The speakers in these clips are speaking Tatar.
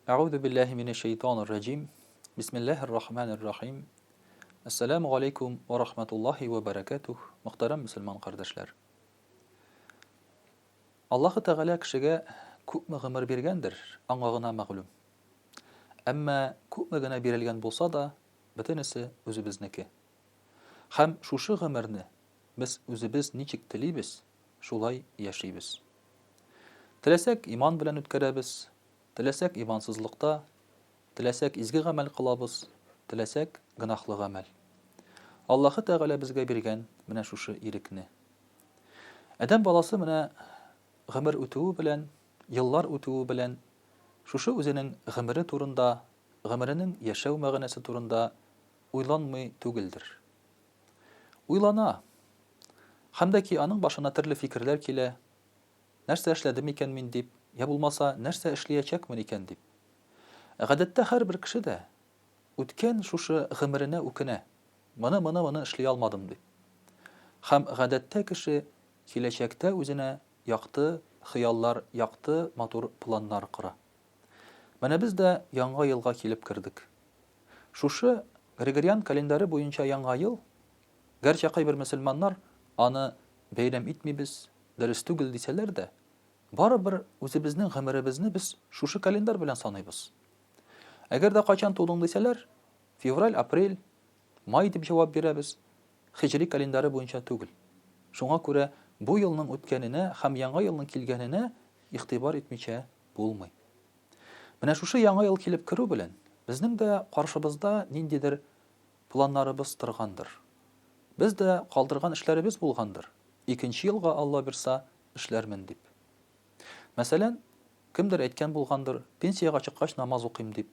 Әгъүзу биллаһи минәш шәйтанир раҗим. Бисмиллаһир рахманир рахим. Ассаламу алейкум ва рахматуллахи ва баракатух. Мөхтәрәм мусульман кардәшләр. Аллаһу Тәгалә кешегә күпме гомер биргәндер, аңа гына мәгълүм. Әмма күпме генә бирелгән булса да, бөтенесе үзебезнеке. Һәм шушы гомерне без үзебез ничек телибез, шулай яшибез. Теләсәк, иман белән үткәрәбез, теләсәк, имансызлыкта, теләсәк, изге гамәл кылабыз, теләсәк, гөнаһлы гамәл. Аллаһы Тәгалә безгә биргән менә шушы ирекне. Адәм баласы менә гомер үтүе белән, еллар үтүе белән, шушы үзенең гомере турында, гомеренең яшәү мәгънәсе турында уйланмый түгелдер. Уйлана. Һәм дә ки аның башына төрле фикерләр килә, Нәрсә эшләдем икән мин дип, йә булмаса, нәрсә эшлиячәкмен икән дип. Ә гадәттә һәрбер кеше дә үткән шушы гомеренә үкенә, моны, моны, моны эшли алмадым дип. Һәм гадәттә кеше киләчәктә үзенә якты хыяллар, якты, матур планнар кора. Менә без дә Яңа елга килеп кердек. Шушы Григориан календаре буенча Яңа ел, гәрчә кайбер мөселманнар аны бәйрәм итмибез, дөрес түгел дисәләр дә, барыбер үзебезнең гомеребезне без шушы календарь белән саныйбыз. Әгәр дә кайчан тудың дисәләр, февраль, апрель, май дип җавап бирәбез, хиҗри календаре буенча түгел. Шуңа күрә бу елның үткәненә һәм Яңа елның килгәненә игътибар итмичә булмый. Менә шушы Яңа ел килеп керү белән, безнең дә каршыбызда ниндидер планнарыбыз торгандыр. Без дә калдырган эшләребез булгандыр, икенче елга Алла бирса, эшләрмен дип. Мәсәлән, кемдер әйткән булгандыр, пенсиягә чыккач намаз укыйм дип.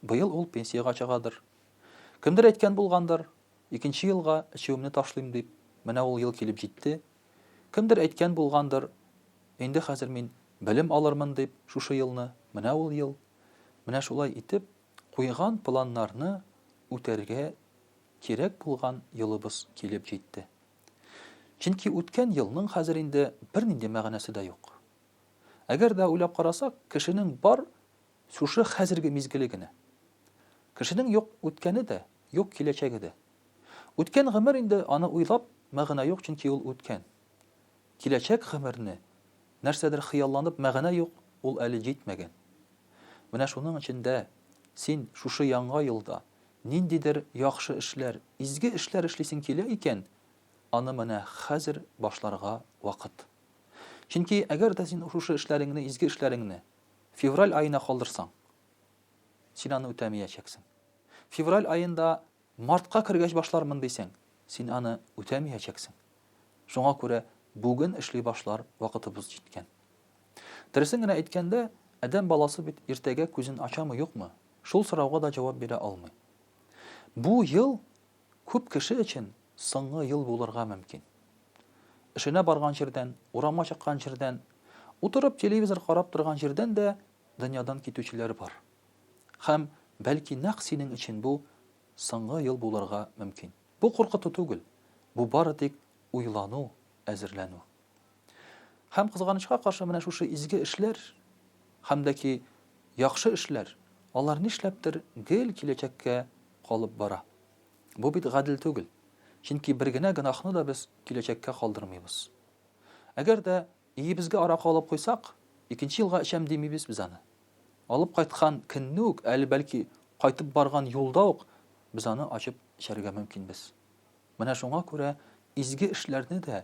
Быел ул пенсиягә чыгадыр. Кемдер әйткән булгандыр, икенче елга эчүемне ташлыйм дип. Менә ул ел килеп җитте, Кемдер әйткән булгандыр, Инде хәзер мин белем алырмын дип шушы елны, менә ул ел. Менә шулай итеп, куйган планнарны үтәргә кирәк булган елыбыз килеп җитте. Чөнки үткән елның хәзер инде бернинди мәгънәсе дә юк. Әгәр дә уйлап карасак, кешенең бар Шушы хәзерге мизгеле генә. Кешенең юк үткәне дә, юк киләчәге дә. Үткән гомер инде, аны уйлап, мәгънә юк, чөнки ул үткән. Киләчәк гомерне, нәрсәдер хыялланып, мәгънә юк, ул әле җитмәгән. Менә шуның өчен дә син шушы яңа елда ниндидер яхшы эшләр, изге эшләр эшлисең килә икән, аны менә хәзер башларга вакыт. Чөнки әгәр дә син шушы эшләреңне, изге эшләреңне, Февраль аена калдырсаң, син аны үтәмиячәксең. Февраль аенда мартка кергәч башлармын дисәң, син аны үтәмиячәксең. Шуңа күрә бүген эшли башлар вакытыбыз җиткән. Дөресен генә әйткәндә, адәм баласы бит иртәгә күзен ачамы-юкмы, шул сорауга да җавап бирә алмый. Бу ел Күп кеше өчен соңгы ел булырга мөмкин. Эшенә барган җирдән, урамга чыккан җирдән, утырып телевизор карап торган җирдән дә дөньядан китүчеләр бар. Һәм, бәлки, нәкъ синең өчен бу соңгы ел булырга мөмкин. Бу куркыту түгел, бу бары тик уйлану, әзерләнү. Һәм, кызганычка каршы, менә шушы изге эшләр һәм дә ки яхшы эшләр, алар нишләптер гел киләчәккә калып бара. Бу бит гадел түгел, чөнки бер генә гөнаһны да без киләчәккә калдырмыйбыз. Әгәр дә өебезгә аракы алып куйсак, икенче елга эчәм димибез без аны. Алып кайткан көнне үк, әле бәлки кайтып барган юлда ук без аны ачып эчәргә мөмкинбез. Менә шуңа күрә изге эшләрне дә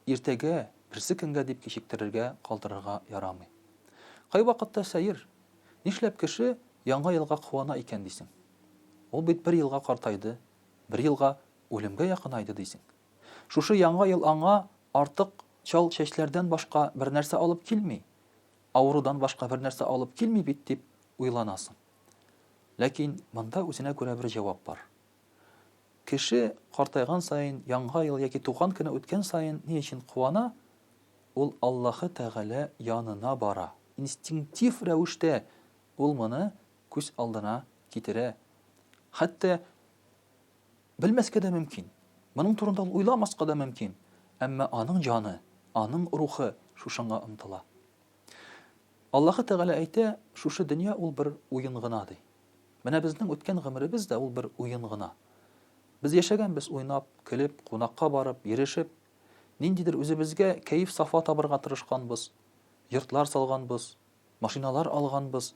иртәгә, берсе көнгә дип кичектерергә, калдырырга ярамый. Кайвакытта сәер, нишләп кеше Яңа елга куана икән дисең. Ул бит бер елга картайды, бер елга үлемгә якынайды дисең. Шушы Яңа ел аңа артык чал чәчләрдән башка бернәрсә алып килми, авырудан башка бернәрсә алып килми бит дип уйланасың. Ләкин монда үзенә күрә бер җавап бар. Кеше картайган саен, яңа ел яки туган көне үткән саен ни өчен куана? Ул Аллаһы Тәгалә янына бара. Инстинктив рәвештә ул моны күз алдына китерә. Хәтта белмәскә дә мөмкин, моның турында ул уйламаска да мөмкин, әмма аның җаны, аның рухы шушыңа омтыла. Аллаһы Тәгалә әйтә, Шушы дөнья ул бер уен гына, ди. Менә безнең үткән гомеребез дә ул бер уен гына. Без яшәгәнбез уйнап, көлеп, кунакка барып, йөрешеп. Ниндидер үзебезгә кәеф-сафа табырга тырышканбыз. Йортлар салганбыз, машиналар алганбыз.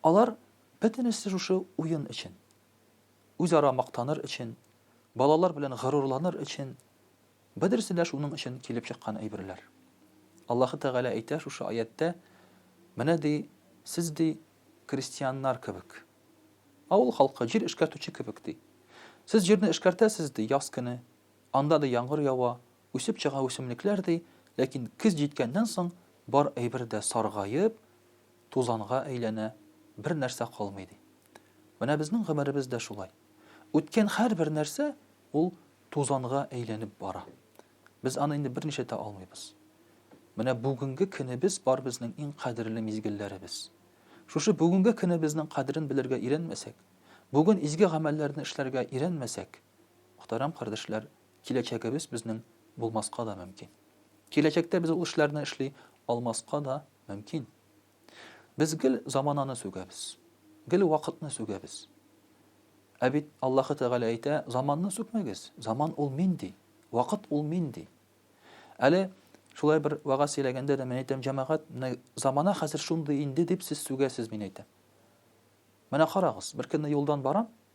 Алар бөтенесе шушы уен өчен. Үзара мактаныр өчен, балалар белән горурланыр өчен, бөдересе дә шуның өчен килеп чыккан әйберләр. Аллаһы Тәгалә әйтә шушы аятьтә, Менә, ди, сез, ди, Крестьяннар кебек. Авыл халкы, җир эшкәртүче кебек, ди. Сез җирне эшкәртәсез, ди, яз көне. Анда, ди, яңгыр ява, үсеп чыга үсемлекләр, ди, ләкин көз җиткәннән соң бар әйбер дә саргаеп, тузанга әйләнә, бернәрсә калмый, ди. Менә безнең гомеребез дә шулай. Үткән һәрбер нәрсә, ул тузанга әйләнеп бара. Без аны инде бер нишләтә алмыйбыз. Менә бүгенге көнебез бар безнең иң кадерле мизгелләребез. Шушы бүгенге көнебезнең кадерен белергә өйрәнмәсәк, бүген изге гамәлләрне эшләргә өйрәнмәсәк, мөхтәрәм кардәшләр, киләчәгебез безнең булмаска да мөмкин. Киләчәктә без ул эшләрне эшли алмаска да мөмкин. Без гел замананы сүгәбез. Гел вакытны сүгәбез. Ә бит Аллаһы Тәгалә әйтә, заманны сүкмәгез. Заман ул мин ди. Вакыт ул мин ди. Әле шулай бер вагаз сөйләгәндә дә мин әйтәм, җәмәгать, менә замана хәзер шундый инде дип сез сүгәсез, мин әйтәм. Менә карагыз, беркөнне юлдан барам,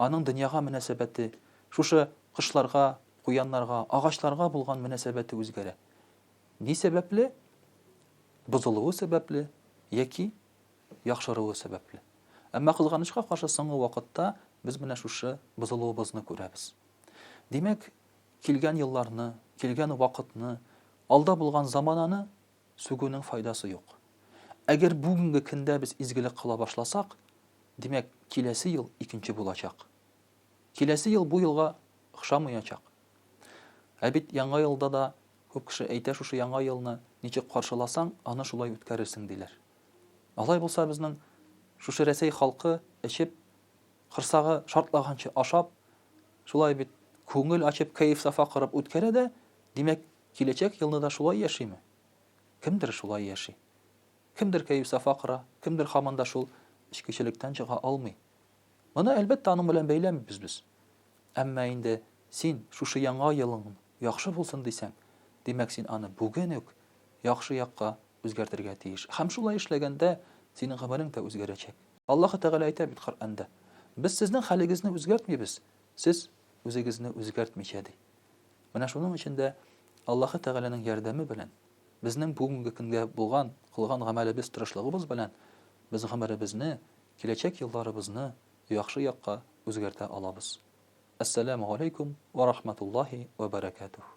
Аның дөньяга мөнәсәбәте, шушы кошларга, куяннарга, агачларга булган мөнәсәбәте үзгәрә. Ни сәбәпле? Бозылуы сәбәпле яки яхшыруы сәбәпле. Әмма кызганычка каршы соңгы вакытта без менә шушы бозылуыбызны күрәбез. Димәк, килгән елларны, килгән вакытны, алда булган замананы Сүгүнең файдасы юк. Әгәр бүгенге кендә без изгелек кыла башласак, димәк, киләсе ел икенче булачак. Киләсе ел бу елга охшамыячак. Ә бит Яңа елда да күп кеше әйтә шушы Яңа елны ничек каршыласаң, аны шулай үткәрерсең, диләр. Алай булса безнең шушы Рәсәй халкы эчеп, корсагы шартлаганчы ашап, шулай бит күңел ачып, кәеф-сафа корып үткәрә дә, димәк, Киләчәк елны да шулай яшиме? Кемдер шулай яши. Кемдер кәеф-сафа кора, кемдер һаман да шул эчкечелектән чыга алмый. Моны, әлбәттә, аның белән бәйләмибез без. Әмма инде син шушы яңа елың яхшы булсын дисәң, димәк, син аны бүген үк яхшы якка үзгәртергә тиеш. Һәм шулай эшләгәндә, синең гомерең дә үзгәрәчәк. Аллаһы Тәгалә әйтә бит Коръәндә, Без сезнең хәлегезне үзгәртмибез, сез үзегезне үзгәртмичә, ди. Менә шуның өчен дә Аллаһы Тәгаләнең ярдәме белән, безнең бүгенге көнгә булган, кылган гамәлебез, тырышлыгыбыз белән без гомеребезне, киләчәк елларыбызны яхшы якка үзгәртә алабыз. Әссәләмү галәйкүм вә рахматуллаһи вә бәрәкәтүһ.